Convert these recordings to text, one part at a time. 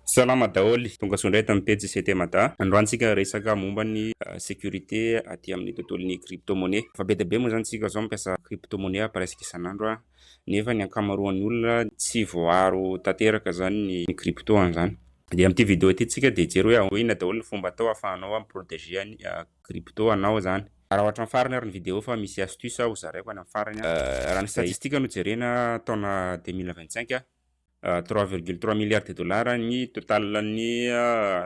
Salama daholo, tongasoa indray eto amin'ny pejy CT Mada. Androany tsika resaka momba ny sécurité aty amin'ny tontolon'ny crypto monnaie. Efa be dia be moa izany tsika zao mampiasa crypto monnaie presque isan'andro nefa ny ankamaroan'ny olona tsy voaaro tanteraka zany ny crypto an'izany. Dia amin'ity vidéo ity tsika dia hijery hoe inona daholo ny fomba atao ahafahanao mi-proteger ny crypto anao zany. Raha hatramin'ny farany ary ny vidéo fa misy astuce ho zaraiko any amin'ny farany. Raha ny statistique no jerena taona deux mille vingt cinq Trois virgule trois milliards de dollars ny total ny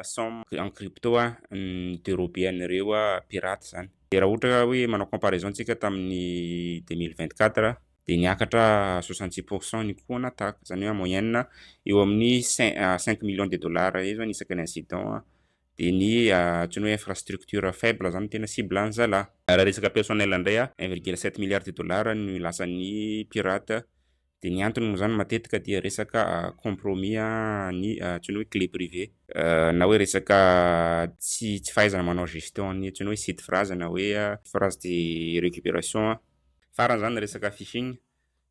somme en crypto ny derober an'ireo pirates zany. Dia raha ohatra ka hoe manao comparaison isika tamin'ny deux mille vingt quatre dia niakatra soixante six pour cent ny coût en attaque, izany hoe en moyenne eo amin'ny cinq millions de dollars eo zany isaka ny incident, dia ny antsoina hoe infrastructure faible izany no tena cible ny zalahy. Raha resaka personnel indray un virgule sept milliards de dollars no lasan'ny pirates Dia ny antony moa izany matetika dia resaka compromis an'ny antsoina hoe clé privée. Na hoe resaka tsy tsy fahaizana manao gestion an'ny antsoina hoe site phrase na hoe phrase de récupération. Farany izany ny resaka phishing,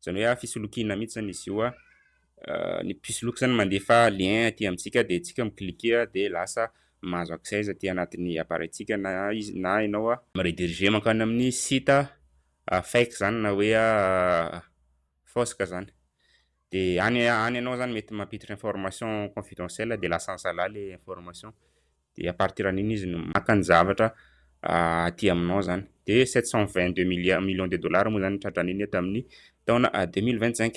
izany hoe fisolokiana mihitsy izany izy io. Ny mpisoloky izany mandefa lien aty amintsika dia isika mi-cliquer dia lasa mahazo accès izy aty anatin'ny appareil-tsika na izy na ianao mi-rediriger mankany amin'ny site a fake izany na hoe a fausse ka izany dia any any ianao izany mety mampiditra information confidentielle dia lasa an'zalahy ilay information dia à partir an'iny izy no maka ny zavatra aty aminao izany dia sept cent vingt deux millions de dollars moa izany ny tratran'iny tamin'ny taona deux mille vingt cinq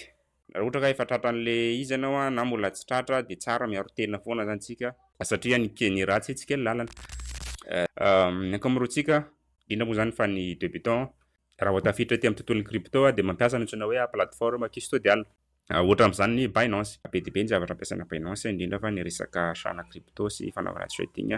Raha ohatra ka efa tratra an'le izy ianao na mbola tsy tratra dia tsara miaro tena foana zany tsika satria ny keny raha tsy hetsika ny lalana ny ankamaroantsika indrindra moa zany fa ny debutant raha vao tafiditra aty amin'ny tontolon'ny crypto dia mampiasa ny antsoina hoe plateforme custodial ohatra amin'izany ny Binance be dia be ny zavatra ampiasaina Binance indrindra fa ny resaka achat-na crypto sy fanaovana trading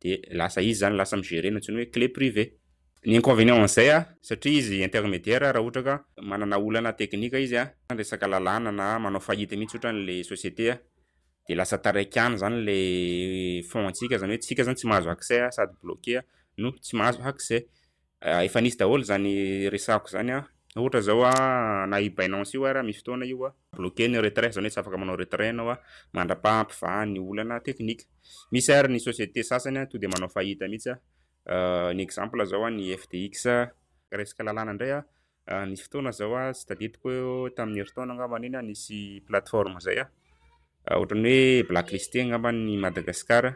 de lasa izy zany lasa mi-gerer ny antsoina hoe clé privée. Ny inconvénient an'izay a, satria izy intermédiaire raha ohatra ka manana olana teknika izy a, na resaka lalàna na manao faillite mihitsy otrany le société a, de lasa taraiky any zany le fonds antsika, zany hoe tsika zany tsy mahazo accès sady bloqué no tsy mahazo accès. Efa nisy daholo izany resahako izany an. Ohatra izao an, na io Binance io ara, misy fotoana io an, bloquer ny retrait, izany hoe tsy afaka manao retrait ianao an, mandrapaha hampivaha ny olana teknika. Misy ary ny société sasany an, tonga dia manao fahita mihitsy an, ny exemple izao an, ny FTX an. Resaka lalàna indray an, nisy fotoana izao an, tsy tadidiko eo tamin'ny herintaona angambany iny an, nisy plateforme izay an, ohatran'ny hoe blacklisté angambany i Madagasikara.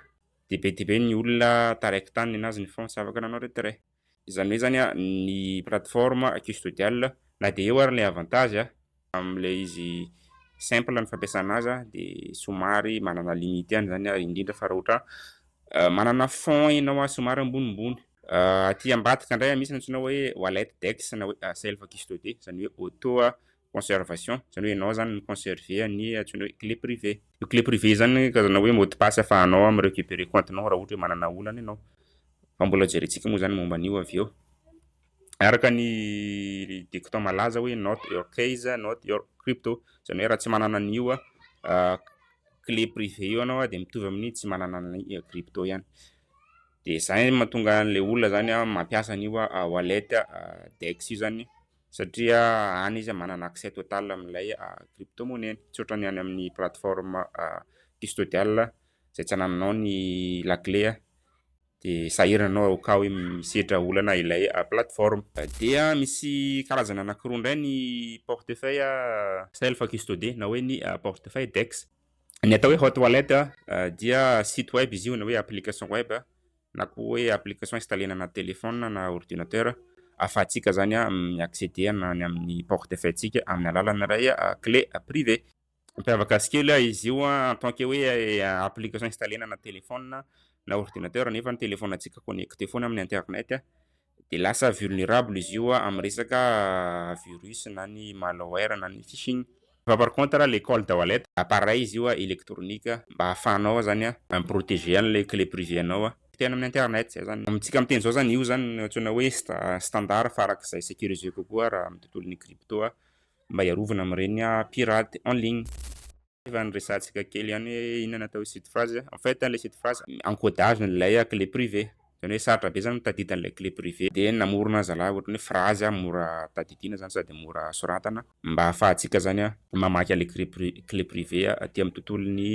dia be dia be ny olona taraiky tany nanaja ny France afaka nanao retrait. Izany hoe zany ny plateforme custodial na dia eo ary ilay avantage amin'ilay izy simple ny fampiasana azy dia somary manana limite ihany izany ary indrindra fa raha ohatra manana fonds ianao ary somary ambonimbony. Aty ambadika indray misy ny antsoina hoe wallet dex na hoe self custody izany hoe auto conservation izany hoe ianao izany mi conserver ny antsoina hoe clé privée. Io clé privée io izany karazana hoe mot de passe ahafahanao mi recuperer compte-nao raha ohatra hoe manana olana ianao. Fa mbola hojerentsika moa izany momba an'io avy eo. Araka ny dicton malaza hoe not your case, not your crypto. Izany hoe raha tsy manana an'io clé privée io ianao dia mitovy amin'ny tsy manana ny crypto ihany. Dia izay no mahatonga an'ilay olona izany mampiasa an'io wallet DEX io izany Satria any izy manana accès total amin'ilay crypto monnaie-ny. Tsy ohatran'ny any amin'ny plateforme custodial izay tsy anananao ny la clé dia sahirana ianao au cas hoe misedra olana ilay plateforme. Dia misy karazana anankiroa indray ny portefeuille self custodie na hoe ny portefeuille dex. Ny atao hoe hot wallet dia site web izy io na hoe application web. na koa hoe application installena anaty téléphone na ordinateur ahafahantsika izany mi accéder na ny amin'ny porte fay tsika amin'ny alalana iray clé privée mampiavaka azy kely izy io en tant que hoe application installena anaty téléphone na ordinateur nefa ny téléphone antsika connecté foana amin'ny internet Dia lasa vulnerable izy io amin'ny resaka virus na ny malware na ny phishing. Fa par contre le call de wallet, appareil izy io électronique mba ahafahanao zany mi-proteger an'ilay clé privée anao teny amin'ny internet, zay zany. Amintsika miteny izao zany io zany no antsoina hoe standard farak'izay sécurisé kokoa raha amin'ny tontolon'ny crypto mba hiarovana amin'ireny pirate en ligne. Efa niresahantsika kely ihany hoe inona natao hoe site phrase. En fait, ilay site phrase, encodage n'ilay clé privée. Izany hoe sarotra be izany ny tadidy an'ilay clé privée. Dia namorona zalahy ohatran'ny hoe phrase mora tadidiana izany sady mora soratana mba hahafahantsika izany mamaky an'ilay clé privée, clé privée aty amin'ny tontolon'ny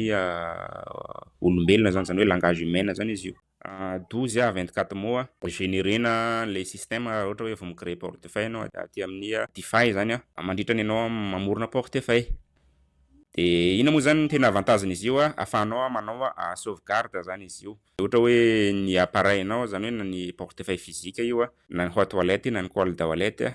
olombelona izany, izany hoe langage humain izany izy io. douze a vingt quatre mois a regenerena ilay système raha ohatra hoe vao mi créer portefeuille ianao aty amin'ny defi zany a mandritra ny ianao mamorona portefeuille de inona moa zany ny tena avantage n'izy io a afahanao manao a sauvegarde zany izy io de ohatra hoe ny appareil nao zany hoe na ny portefeuille physique io a na ny hot wallet na ny cold wallet a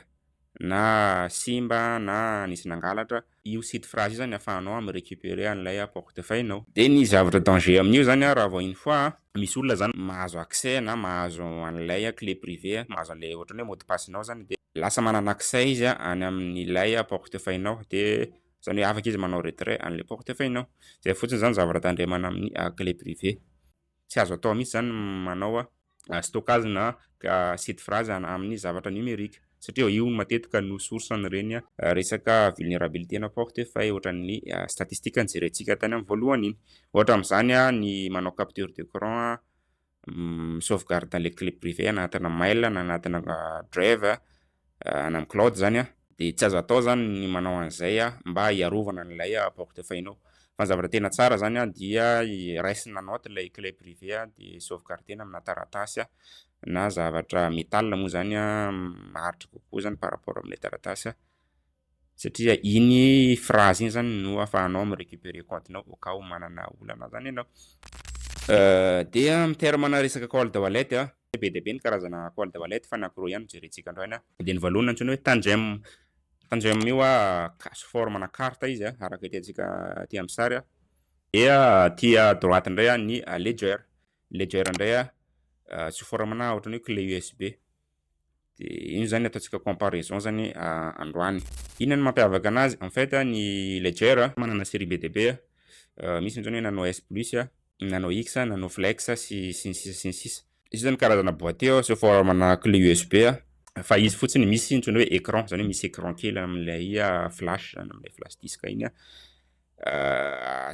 na simba na nisy nangalatra, io site phrase io zany afahanao mi recuperer an'ilay portefeuille nao. Dia ny zavatra danger amin'io zany an, raha vao une fois an, misy olona zany mahazo accès na mahazo an'ilay clé privée an, mahazo an'ilay ohatran'ny hoe mot de passe nao zany, dia lasa manana accès izy an any amin'ilay portefeuille nao, dia zany hoe afaka izy manao retrait an'ilay portefeuille nao. Zay fotsiny zany zavatra tandremana amin'ny clé privée. Tsy azo atao mihitsy izany ny manao stockage na site phrase amin'ny zavatra numerique satria io matetika no source an'ireny resaka vulnerabilité na porte faille ohatran'ny statistique nojerentsika tany amin'ny voalohany iny. Ohatra amin'izany ny manao capture d'écran, mi-sauvegarde ilay clé privée anatina mail na anatina drive any amin'ny cloud izany an, dia tsy azo atao izany ny manao an'izay mba hiarovana an'ilay portefeuille nao. Fa ny zavatra tena tsara izany an dia raisina note ilay clé privée an dia sauvegarder-na amina taratasy na zavatra metal moa izany an maharitra kokoa izany par rapport amin'ilay taratasy. Satria iny phrase iny zany no afahanao mi recuperer compte nao au cas où manana olana zany ianao. Dia amin'ny terme ana resaka cold wallet a, be dia be ny karazana cold wallet fa ny ankiroa ihany no jerentsika androany an. Dia ny voalohany antsoina hoe Tangem, Tangem io a sous forme ana carte izy a araka hitantsika aty amin'ny sary a, dia aty à droite indray an ny Ledger, Ledger indray a sous forme ana ohatran'ny hoe clé USB. Dia iny zany ataontsika comparaison zany androany. Inona no mampiavaka anazy? En fait ny Ledger manana série be dia be, misy ny hoe Nano S plus, Nano X, Nano Flex sy sy ny sisa sy ny sisa. Izy zany karazana boîtier azo forme-na clé USB fa izy fotsiny misy ny antsoina hoe écran zany hoe misy écran kely amin'ilay flash zany amin'ilay flash disk iny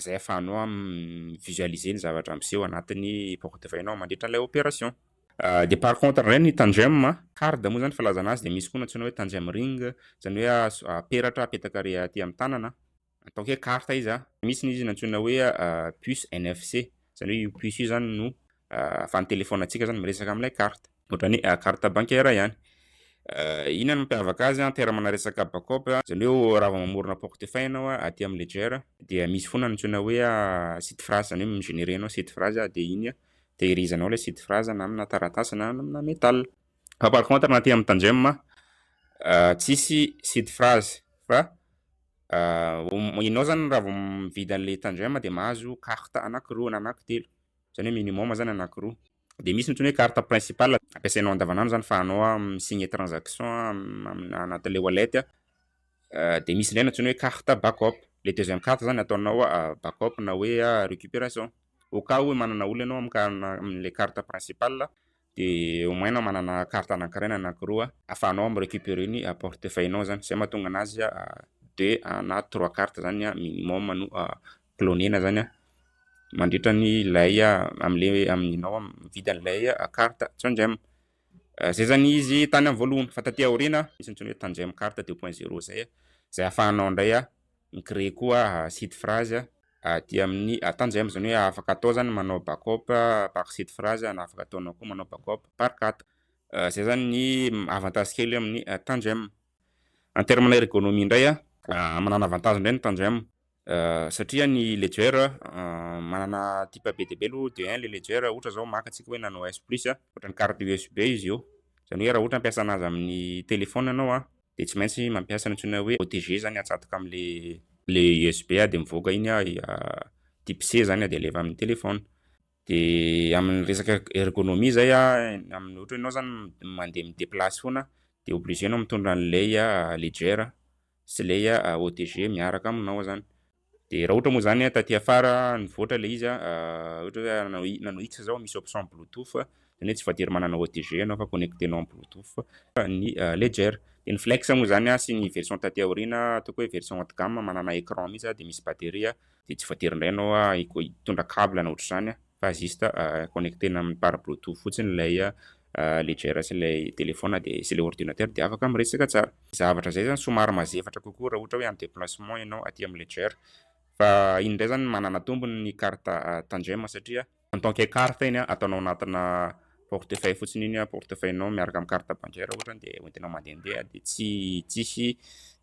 zay afahanao mi visualiser ny zavatra miseho anatin'ny porte-feuille-nao mandritra an'ilay opération. Dia par contre indray ny tandem a, card moa zany filazana azy dia misy koa ny antsoina hoe tandem ring, izany hoe a peratra apetaka ary aty amin'ny tanana, ataoko hoe carte izy a, misy ny izy nantsoina hoe puce NFC, izany hoe io puce io zany no ahafahan'ny téléphone antsika zany miresaka amin'ilay carte, ohatran'ny carte bancaire ihany. Inona no mampiavaka azy a, amperamanà resaka backup, izany hoe raha vao mamorona portefeuille ianao a aty amin'ny ledger dia misy foana ny antsoina hoe seed phrase, izany hoe mi-generer ianao seed phrase dia iny a Tehirizanao ilay site Fraza na amina taratasy na amina metal. Fa par contre na aty amin'ny Tandjem a, tsisy site Fraza fa ianao zany raha vao mividy an'ilay Tandjem dia mahazo carte anakiroa na anakitelo, izany hoe minimum zany anakiroa. Dia misy ny antsoina hoe carte principale, ampiasainao andavanandro zany fa anao mi-signe transaction amina anatin'ilay wallet, dia misy indray ny antsoina hoe carte backup, ilay deuxième carte zany ataonao backup na hoe récupération. au cas où manana olona ianao amin'ny amin'ilay carte principale dia au moins na manana carte anankiray na anankiroa afahanao mi recuperer ny portefeuille nao zany, zay mahatonga anazy deux na trois carte zany minimum no clonena zany mandritra ny ilay amin'ilay amin'inao mividy an'ilay carte tsindrem, zay zany izy tany amin'ny voalohany fa taty aoriana misy ny antsoina hoe tandrem carte deux point zero zay, zay afahanao indray Mi-créer koa site phrase aty amin'ny Atanza em, izany hoe afaka atao izany ny manao backup par site phrase na afaka ataonao koa manao backup par cat. Izay izany ny avantage kely amin'ny Tangem. En terme na ergonomie indray, manana avantage indray ny Tangem satria ny Ledger manana type be dia be aloha de un le Ledger ohatra izao maka antsika hoe Nano S plus, ohatran'ny carte USB izy io, izany hoe raha ohatra hampiasa anazy amin'ny téléphone ianao, dia tsy maintsy mampiasa ny antsoina hoe OTG zany atsatoka amle le USB a dia mivoaka iny a type C zany a dia alefa amin'ny téléphone dia amin'ny resaka ergonomie zay a amin'ny ohatra ianao zany mandeha mi-déplace foana dia obligé anao mitondra an'ilay ledger sy ilay OTG miaraka aminao zany Dia raha ohatra moa izany an, taty afara nivoatra ilay izy an, ohatra hoe nanao i- nanao X zao misy option bluetooth, izany hoe tsy voatery manana OTG ianao fa connecter-nao amin'ny bluetooth ny Ledger. Dia ny Flex moa izany an sy ny version taty aoriana, ataoko hoe version haut de gamme manana écran mihitsy an dia misy batterie an, dia tsy voatery indray ianao a hitondra cable na ohatra izany an fa juste connecter-na amin'ny par bluetooth fotsiny ilay Ledger sy ilay telephone dia sy ilay ordinateur dia afaka miresaka tsara. Zavatra izay izany somary mazefatra kokoa raha ohatra hoe en déplacement ianao aty amin'ny Ledger. Fa iny indray izany manana tombony ny carte tandrema satria. En tant que carte iny ataonao anatina portefeuille fotsiny iny portefeuille nao miaraka amin'ny carte bancaire ohatra dia hoentinao mandehandeha dia tsy tsisy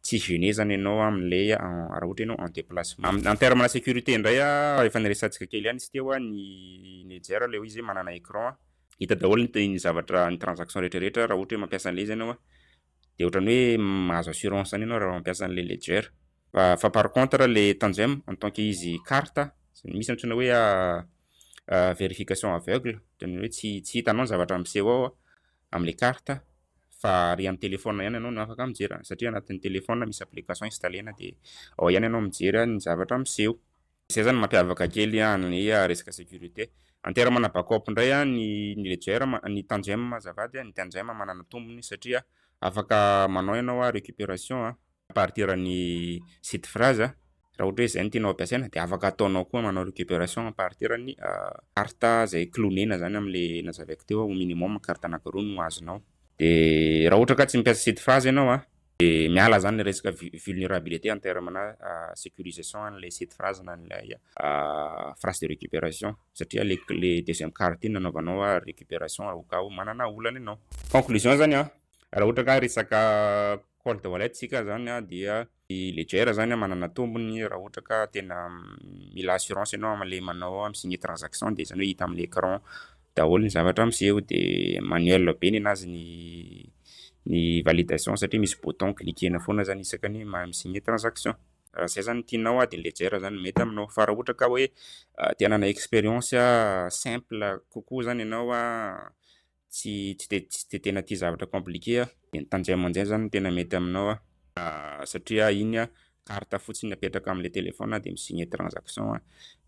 tsy gêner izany ianao amin'ilay raha ohatra ianao en déplacement. En terme de sécurité indray efa niresahantsika kely ihany izy teo ny Ledger ilay hoe izy manana écran Hita daholo ny ny zavatra ny transaction rehetra rehetra raha ohatra hoe mampiasa an'ilay izy ianao a. Dia ohatran'ny hoe mahazo assurance an'io ianao raha mampiasa an'ilay Ledger. Fa fa par contre ilay Tangem en tant que izy carte misy antsoina hoe verification aveugle ohatran'ny hoe tsy tsy hitanao ny zavatra miseho ao amin'ilay carte fa ary amin'ny téléphone ihany ianao no afaka mijery an'izany satria anatin'ny téléphone misy application installena dia ao ihany ianao mijery ny zavatra miseho. Izay zany mampiavaka kely an ny resaka sécurité. Antera mana backup indray an ny ny ledger ma ny tandrem azafady an ny tandrem manana tombony satria afaka manao ianao an récupération an à partir ny site phrase an raha ohatra hoe izay no tianao ampiasaina dia afaka ataonao koa manao récupération à partir ny carte izay clonena zany amin le nazavaiko teo an au minimum carte anakiroa no azonao dia raha ohatra ka tsy mpiasa site phrase ianao an Dia miala zany le resaka vulnerabilité en terme na sécurisation an'ilay site phrase na an'ilay phrase de récupération satria le le deuxième carte iny nanaovanao a récupération raha ka ho manana olana ianao. Conclusion zany a, raha ohatra ka resaka cold wallet tsika zany a dia ny ledger zany a manana tombony raha ohatra ka tena mila assurance ianao am'le manao am' sy ny transaction dia zany hoe hita am'le écran daholo ny zavatra miseho de manuel be nenazy ny ny validation satria misy bouton cliquer-na foana zany isaka ny mahay mi-signer transaction raha zay zany ny tianao ady ny ledger zany no mety aminao fa raha ohatra ka hoe te hanana experience simple kokoa zany ianao tsy tsy de tsy de tena tia zavatra compliquer de ny tanjay amanjay zany no tena mety aminao satria iny carte fotsiny apetraka amle téléphone de mi-signe transaction a,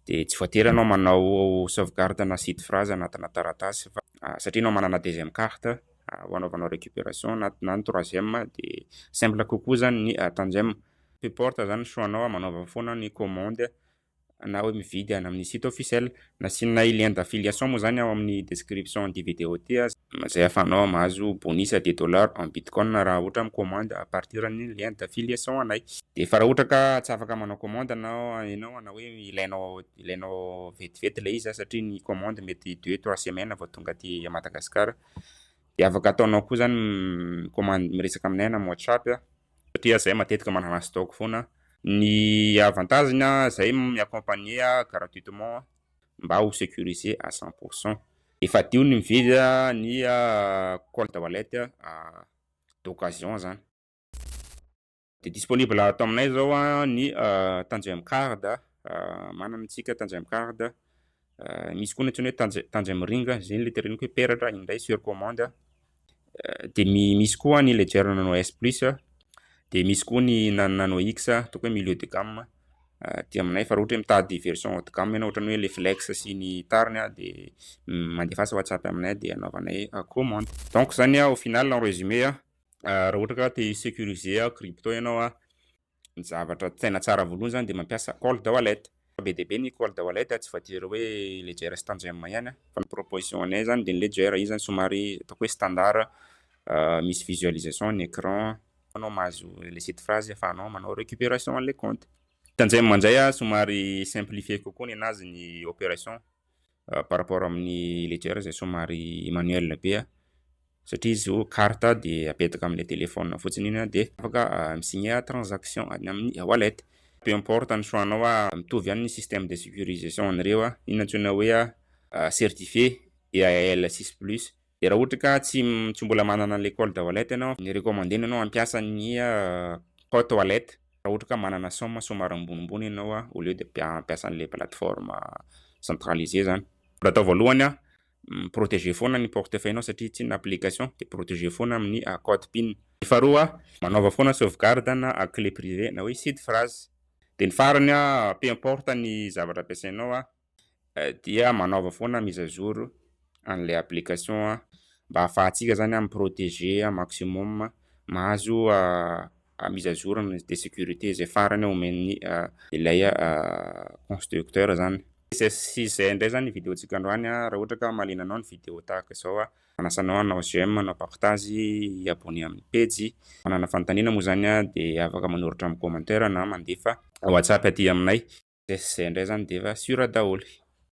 de tsy voatery ianao manao sauvegarde na site phrase anatina taratasy fa satria ianao manana deuxième carte ho anaovanao récupération na na ny troisième de simple kokoa zany ny tandem, peu porte zany ny choix nao a, manaova foana ny commande na hoe mividy any amin'ny site officiel. Nasianay lien d'affiliation moa izany ao amin'ny description ity video ity izay ahafahanao mahazo bonus de dollars en bitcoin raha ohatra mikomandy à partir ny lien d'affiliation anay. Dia efa raha ohatra ka tsy afaka manao commande anao ianao na hoe ilainao ilainao vetivety ilay izy satria ny commande mety deux trois semaines vao tonga aty Madagascar dia afaka ataonao koa izany mikomandy miresaka aminay na amin'ny WhatsApp. Satria zahay matetika manana stock foana. Ny avantage-ny zahay mi accompagner gratuitement mba ho securiser à cent pour cent. Efa hadio ny mividy ny cold wallet d'occasion zany. Dia disponible ato aminay zao ny Tanjm card, manana isika Tanjm card misy koa ny antsoina hoe tanja tanja miringa zay le tereniko hoe peratra indray sur commande de misy koa ny ledger nano s plus de misy koa ny nano x ataoko hoe milieu de gamme de aminay fa raha ohatra hoe mitady version haut de gamme ianao ohatran'ny hoe le flex sy ny tariny de mandefasa whatsapp aminay de anaovanay commande donc zany au final en résumé raha ohatra ka te securiser crypto ianao Ny zavatra tena tsara voalohany zany dia mampiasa cold wallet. Fa be dia be ny cold wallet, tsy voatery hoe ledger sy tantgem ihany an. Fa ny proposition anay zany dia ny ledger, io zany somary ataoko hoe standard, misy visualisation ny écran, anao mahazo ilay site phrase afahanao manao récupération an'ilay compte. Tantgem indray somary simplifier kokoa ny anazy ny opération, par rapport amin'ny ledger izay somary manuel be a, satria izy io carte dia apetaka amin'ilay téléphone fotsiny iny dia afaka mi-signer transaction any amin'ny e-wallet. Peu importe ny choix anao, mitovy ihany ny système de sécurisation an'ireo, iny antsoina hoe certifié EAL six plus. Dia raha ohatra ka tsy tsy mbola manana an'ilay col d'eaualette ianao, ny recommandena ianao hampiasa ny col toilette raha ohatra ka manana somme somary ambonimbony ianao au lieu de hampiasa an'ilay plateforme centralisée izany. Mbola atao voalohany, mi-proteger foana ny portefeuille-nao satria tsy inona application dia proteger foana amin'ny code pin. Ny faharoa, manaova foana sauvegarde na clé privée na hoe seed phrase. Dia ny farany, peu importe ny zavatra ampiasainao, dia manaova foana mise à jour an'ilay application mba hahafahantsika izany mi-proteger au maximum, mahazo mise à jour de sécurité izay farany omen'ny ilay constructeur izany. Tsy izay indray izany ny vidéo-ntsika androany, raha ohatra ka mahaliana anao ny vidéo tahaka izao. Manasa anao hanao j'aime, hanao partage, hi abonner amin'ny pejy. Manana fanontaniana moa izany dia afaka manoratra amin'ny commentaire na mandefa WhatsApp aty aminay. Zay sy zay indray izany dia efa sûr daholo.